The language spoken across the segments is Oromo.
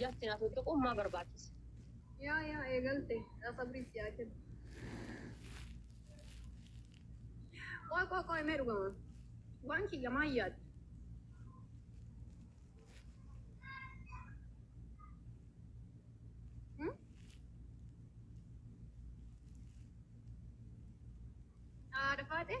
Just na tuttuquun maa barbaachise. Yaa yaa eegalte yaa sabrii si yaa kennu. Qoy qoy qoy mee dhugama. Waan kiyya maa yaaddu. Hmm? Haadha faaxee.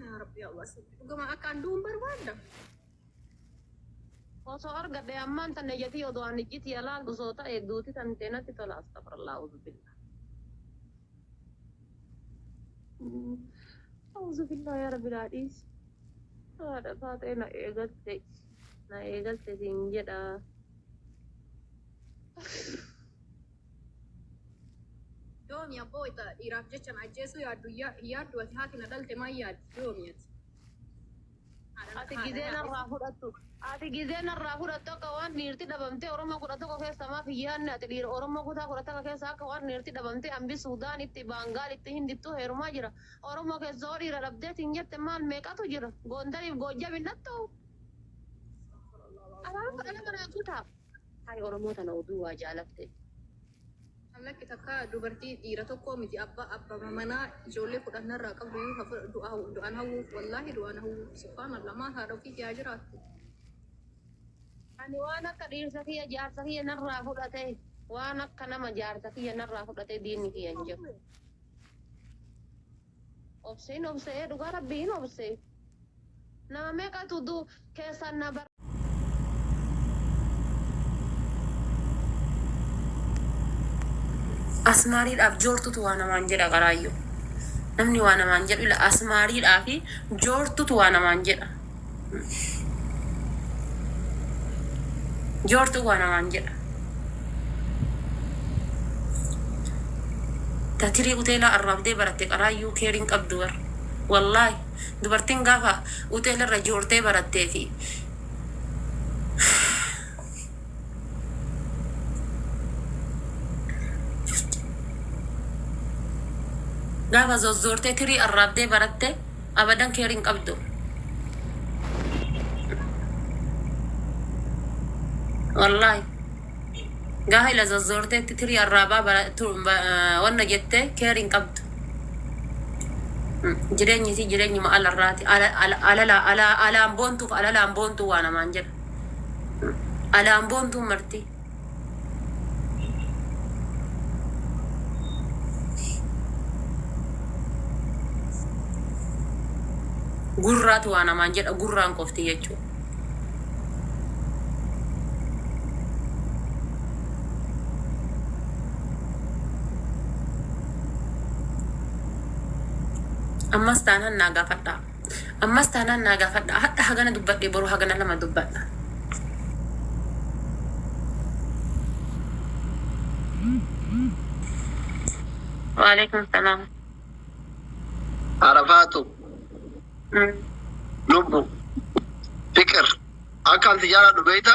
Yaa Rabbi Allah sitti dhugama akka adduun barbaadda. Osoo argadhe ammaan tan ejjatii odoo ani ijjiti yalaa gusoo ta'e duuti tan ta'e natti tola astafirallaa uzubilla. Uzubilla yaa rabbi naa dhiisi. Haadha taatee na eegalte na eegalte siin jedha. Yoomi abboo wayta dhiiraaf jecha na ajjeesuu yaaddu hin yaaddu ati haati na dhalte maal yaaddi yoomi ati haadha na Ati gizee haadha narraa fudhattu Ati gizee narraa fudhattu akka waan dhiirti dhabamtee Oromoo 11 keessaa maaf hin yaadne ati dhiira Oromoo kutaa 12 keessaa akka waan dhiirti dhabamtee Ambi Suudaan itti Baangaal itti Hindittuu heerumaa jira Oromoo keessaa hoo dhiira dhabdee siin jette maal meeqatu jira Goondariif Goojjam hin dhattuu Abaaruu dhala manaa kutaa. Hay oromoo tana oduu waa jaalatte. An lakki takka dubartii dhiira tokkoo miti abba abba manaa ijoollee kudhan narraa qabduyyuu ha fudh du'a du'an hawwuuf wallaahi du'an hawwuuf subhaanallah maa haadha ofiiti haa jiraattu. Ani waan akka dhiirsa kiyya jaarsa kiyya narraa fudhate waan akka nama jaarsa kiyya narraa fudhate diinni kiyya hin jiru. Obse hin obse dhugaa rabbii hin obse nama meeqatu du keessaan na bar. Asmaariidhaaf joortutu waa namaan jedha qaraayyuu. Namni waa namaan jedhu ila asmaariidhaa fi joortutu waa namaan jedha. Joortuu waa namaan jedha. Ta tirii uteelaa arraabdee baratte qaraayyuu keer hin qabdu bar. Wallaahi dubartiin gaafa uteela irra joortee barattee fi gaafa zozzoortee tirii arraabdee baratte abadan care hin qabdu. Wallahi. Gaahila zazzoorteetti tirii arraabaa bara- tu- ba- eh, wanna jettee care hin qabdu. Mm, Jireenyi isii jireenyuma alarraati. Ala- ala- alala- ala- Alaan boontuuf alalaan boontuu waa namaan jedha. Alaan boontuun marti. Gurraatu waa namaan jedha gurraan qofti jechuu. Ammas taanan naa gaafadhaa. Ammas taanaan naa gaafadhaa. Hadha hagana dubbadhe boru hagana lama dubbadha. Waalaikum salaam. Arafaatu Mm. lubbu fiqir akkaan si jaaladhu beekta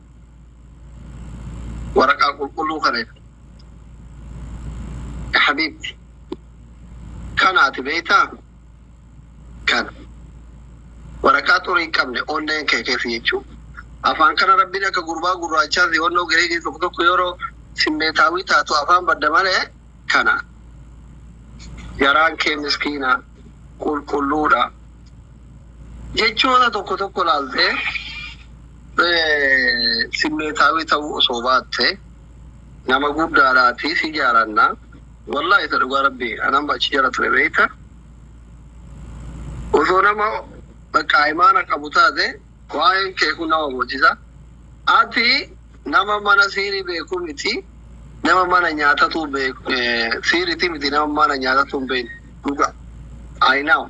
waraqaa qulqulluu kana irra ya habiibti kana ati beektaa kana waraqaa xurii hin qabne onneen kee keessa jechuu afaan kana rabbiin akka gurbaa gurraachaa fi onnoo gireegii tokko tokko yeroo simmeetaawii taatu afaan badda malee kana garaan kee miskiina qulqulluudha Jechoota tokko tokko ilaaltee simmeetaawii ta'uu osoo baatte nama guddaadhaatii si jaalanna. Wallaahi isa dhugaa rabbii anaan achi jala ture beekta. Osoo nama bakka imaana qabu taate waa'een kee kun nama bochisa. Ati nama mana siirii beeku miti nama mana nyaatatu beeku siiriti miti nama mana nyaatatu hin beekne dhugaa. I know.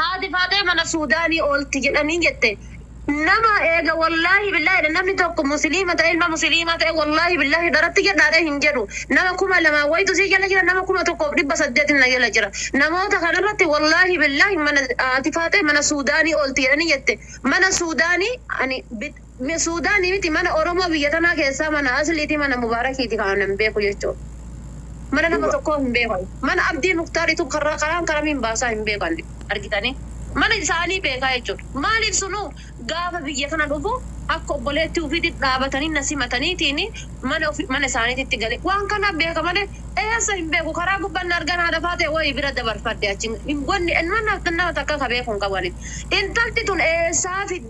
Haati Faaxee mana Suudaanii oolti jedhanii jette. Nama eega wollaahi billaahi jedhe namni tokko musiliima ta'ee ilma musiliimaa ta'ee wollaahi billaahi dharatti jedha jedhee hin jedhu. Nama kuma lamaa wayitu si jala jira nama kuma tokkoof dhibba saddeetin na jala jira. Namoota kanarratti wollaahi billaahi mana haati Faaxee mana Suudaanii oolti jedhanii jette. Mana Suudaanii ani Me sudani miti mana oromoo biyya tanaa keessaa mana asliiti mana mubarakiiti ka anan beeku jechu mana nama Dhuga. tokkoo hin beeku ani mana abdii muktar itu karra karaan karamiin baasaa hin beeku ani argitani mana isaanii beekaa jechuudha maaliif sunuu gaafa biyya tana dhufu akka obboleetti ufiiti dhaabatanii na simataniitiini mana ofi mana isaaniititti gale waan kana beeka malee eessa hin beeku karaa gubban na argan haadha faatee wayi bira dabarfadhe achi hin wanni nama takka ka beeku hin qabu ani intalti tun eessaa fidde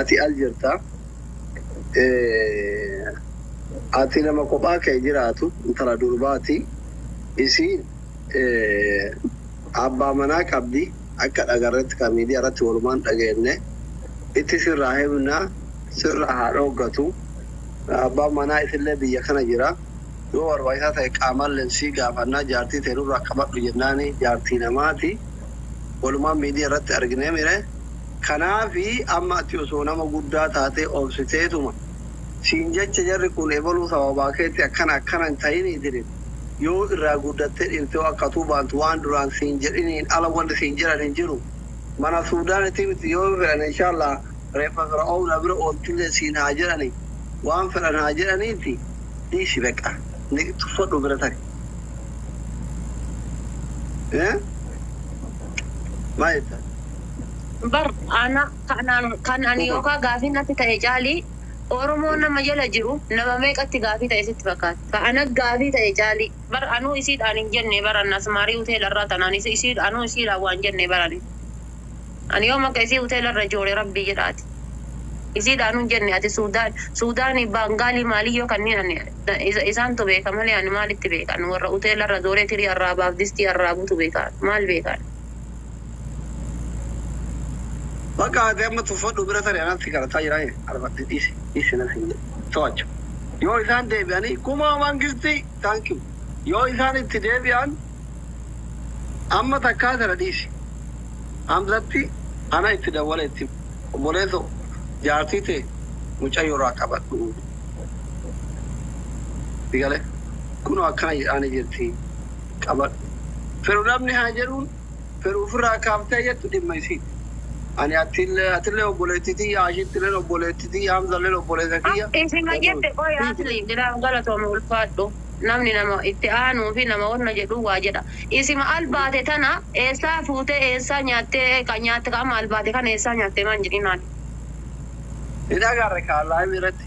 ati al jirta ati nama kophaa kee jiraatu intala durbaati isiin abbaa manaa qabdi akka dhagarretti ka miidiyaa irratti walumaan dhageenne itti sirraa himna sirraa haa dhooggatu abbaan manaa isillee biyya kana jira yoo barbaachisaa ta'e qaamalleen sii gaafannaa jaartii tee nurraa qabadhu jennaani jaartii namaati walumaan miidiyaa irratti arginee mire Kanaafi amma ati osoo nama guddaa taatee obsiteetuma siin jecha jarri kun ebaluu sababaa keetti akkana akkana hin tahinii jedhin yoo irraa guddattee dhiirtee akka atuu baantu waan duraan siin jedhiniin ala wanni siin jedhan hin jiru mana suudaanitii miti yoo fedhan inshallaah reeffa fira'oowna bira oolchullee siin haa jedhani waan fedhan haa jedhaniiti dhiisi beqa niq tuffadhu bira tari Hee? Maal jettan? Bar ana kanaan kan ani yookaan gaafii natti ta'e caalii Oromoo nama jala jiru nama meeqatti gaafii ta'e sitti fakkaata? Ka ana gaafii ta'e caalii. Bar anuu isiidhaan hin jenne bar an Asmaarii Huteela irraa tanaan is isii anuu isiidhaan waan jenne bar ani. Ani yoom akka isii Huteela irra joore Rabbii jedha ati. Isiidhaanuu hin jenne ati Suudaan Suudaanii Baangaalii maalii yoo kanniin ani na isa isaantu beeka malee ani maalitti beeka ani warra Huteela irra jooree tirii arraabaaf distii arraabutu beeka maal beeka ani. Bakka ati amma tuffadhu bira tari anatti kadhataa jira ee arfadhe dhiisi dhiisi nan hin to'achu yoo isaan deebi'anii kumaa mangisti thank you yoo isaan itti deebi'an amma takkaa tana dhiisi hamzatti ana itti dawwala itti obboleeso jaartii tee mucayyoo irraa qabadhu si gale kunoo akkana jedhaani jirti qabadhu. Fedhu namni haa jedhuun fedhu ofirraa kaaftee jettu dhimma isiiti. Ani atille atille obboleetti tiyya Aashittilleen obboleetti tiyya Hamzalleen obboleessa kiyya. Isima Fedhu. jette qoy asli jiraaf galatoomi ulfaadhu namni nama itti aanuu fi nama wanna jedhuu waa jedha isima albaate tana eessaa fuutee eessaa nyaattee ka nyaatte ka amma albaate kana eessaa nyaatte maan jedhinaan. Ni dhagaarre kaa live irratti.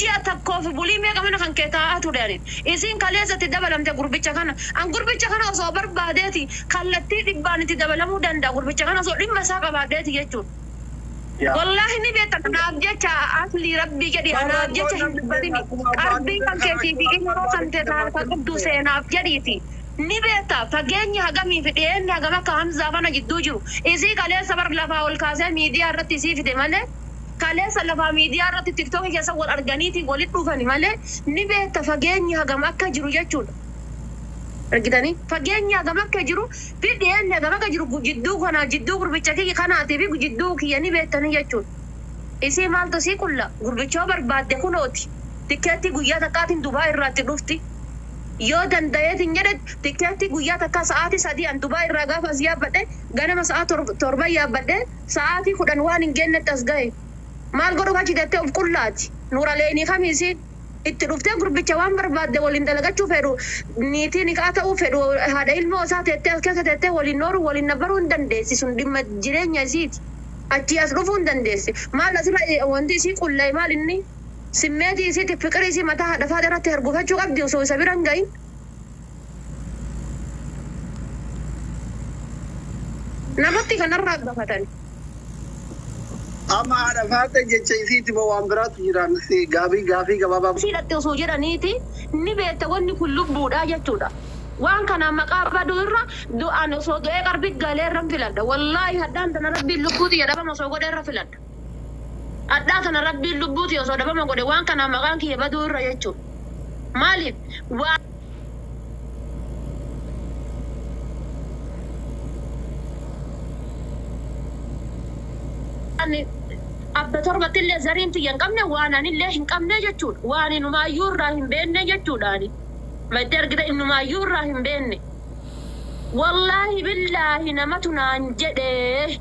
Ji'a takkoof bulii meeqa mana kan kee taa'aa ture ani. Isiin kaleessa itti dabalamte gurbicha kana. An gurbicha kana osoo barbaadeeti kallattii dhibbaan itti dabalamuu danda'a gurbicha kana osoo dhimma isaa qabaadheeti jechuudha. Wallaahi ni beekta anaaf jecha Aslii rabbii jedhii anaaf jecha hin dubbatini qalbii kan keetii fi ilmoo kan tee ta harka qabdu seenaaf jedhiiti ni beekta fageenyi hagamii fi dhiyeenni hagam akka Hamzaa fana jidduu jiru isii kaleessa bar lafaa ol kaasee miidiyaa irratti isii fide malee Kaleessa lafaa miidiyaa irratti TikTok keessa wal arganiiti walitti dhufani malee ni beekta fageenyi hagam akka jiru jechuudha. Argitanii? Fageenyi hagam akka jiru fi dhiyeenni hagam akka jiru jidduu kanaa jidduu gurbicha kiyya kanaati fi jidduu kiyya ni beektanii jechuudha. Isii maaltu isii qulla? Gurbicha yoo barbaadde kunooti. Tikkeettii guyyaa takkaatiin Dubai irraa itti dhufti. Yoo danda'eetiin jedhe tikkeettii guyyaa takkaa sa'aatii 3 an Dubai irraa gaafa as yaabbadhe ganama sa'aa 7 yaabbadhee Sa'aatii kudhan waan hin geennetti as gahe. Maal godhuuf achi teettee of qullaati? Nuuraleenii Kamiisi itti dhuftee gurbicha waan barbaadde waliin dalagachuu fedhu, niitii nikhaa ta'uu fedhu, haadha ilmoo isaa teettee as keessa teettee waliin nooruu, waliin nabbaruu hin dandeessi. Sun dhimma jireenya isiiti. Achii as dhufuu hin dandeessi. Maal asirra wanti isii qulla'e maal inni? Simmeetii isiitiif fiqirii isii mataa haadha Faadha irratti hargufachuu qabdi osoo isa bira hin gahin. Namatti kanarraa gafatani. Amma haadha faaxee jecha isiiti moo waan biraatu jiraan si gaabii gaafii gabaabaa. Asii dhaqxi osoo jedhaniiti ni beekta wanni kun lubbuudhaa jechuudha. Waan kanaan maqaa baduu irra du'aan osoo du'ee qarbi galee irran filadha. Wallaahi hadhaan tana rabbiin lubbuu tiyya dhabama osoo godhe irra filadha. Hadhaa tana rabbiin lubbuu tiyya osoo dhabama godhe waan kanaan maqaan kiyya baduu irra jechu. Maaliif waa ani abba torbatti illee zariin tiyya hin qabne waan ani illee hin qabne jechuudha. Waan inumaayyuu irraa hin beenne jechuudha ani. Maddee argita inumaayyuu irraa hin beenne. Wallaahi billaahi namatu naan jedhee.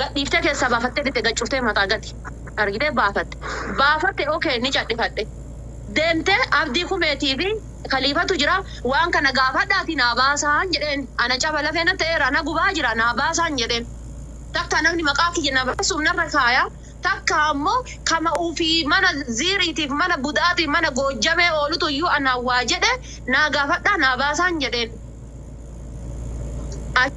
Gad dhiiftee keessaa baafattee bitte gad cuftee mataa gadi argitee baafatte. Baafatte ok ni cadhifadhe. Deemtee Abdii Kumeetii fi Kaliifatu jira waan kana gaafadhaatii naa baasaan jedheen. Ana caba lafee na ta'eera na gubaa jira naa baasaan jedheen. Takkaa namni maqaa kiyya na balleessuuf narra kaaya takkaa ammoo kama ufii mana Ziiriitiif mana Budaatiif mana Goojjamee oolutu iyyuu anaan waa jedhe naa gaafadhaa naa baasaan jedheen. Achi.